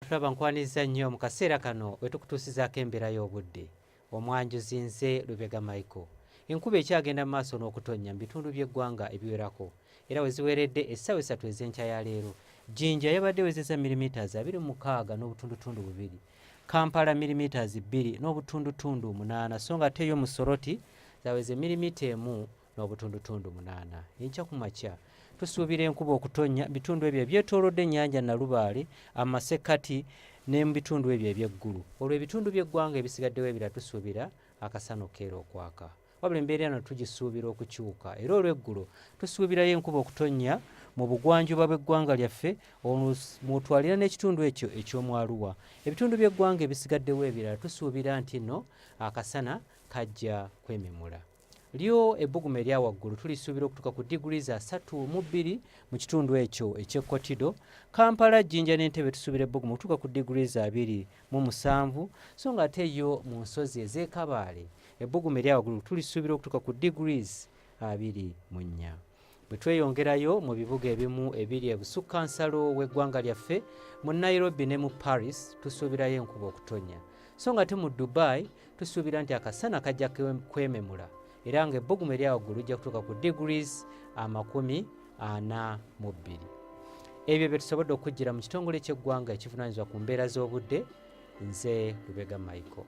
tulaba nkwaniriza nnyo mu kaseera kano wetukutuusizaako embeera y'obudde omwanjuzi nze lubega michael enkuba ekyagenda mu maaso n'okutonnya mu bitundu by'eggwanga ebiwerako era weziweredde essaawa esatu ez'enkya ya leero jinja yabadde wezeza milimiters abiri mukaaga n'obutundutundu bubiri kampala milimiters bbiri n'obutundutundu munaana so nga ate yo musoroti zaweze milimita emu n'obutundutundu munaana enkya ku makya tusuubira enkuba okutonnya bitundu ebyo ebyetoolodde ennyanja nalubaale amasekkati ne mu bitundu ebyo eby'eggulu olwo ebitundu by'eggwanga ebisigaddewo ebira tusuubira akasana okukeera okwaka wabula embeera eno tugisuubira okukyuka era olw'eggulo tusuubirayo enkuba okutonnya mu bugwanjuba bw'eggwanga lyaffe mwotwalira n'ekitundu ekyo eky'omwaluwa ebitundu by'eggwanga ebisigaddewo ebirala tusuubira nti nno akasana kajja kwememula lyo ebbugumu erya waggulu tulisuubira okutuuka ku diguli za satu mu bbiri mu kitundu ekyo ekyekkotido kampala jjinja n'entebe tusuubira ebbugumu okutuuka ku diguli za abiri mu musanvu so nga ate yo mu nsozi ez'ekabaale ebbugumu erya waggulu tulisuubira okutuuka ku diguli abiri mu nnya bwe tweyongerayo mu bibuga ebimu ebiri ebusukka nsalo w'eggwanga lyaffe mu nairobi ne mu paris tusuubirayo enkuba okutonya so nga te mu dubai tusuubira nti akasana kajja kwememula era nga ebbugumu eryawaggulu lijja kutuuka ku degrees amakumi ana mu bbiri ebyo bye tusobodde okujjira mu kitongole ky'eggwanga ekivunanyizibwa ku mbeera z'obudde nze lubega michael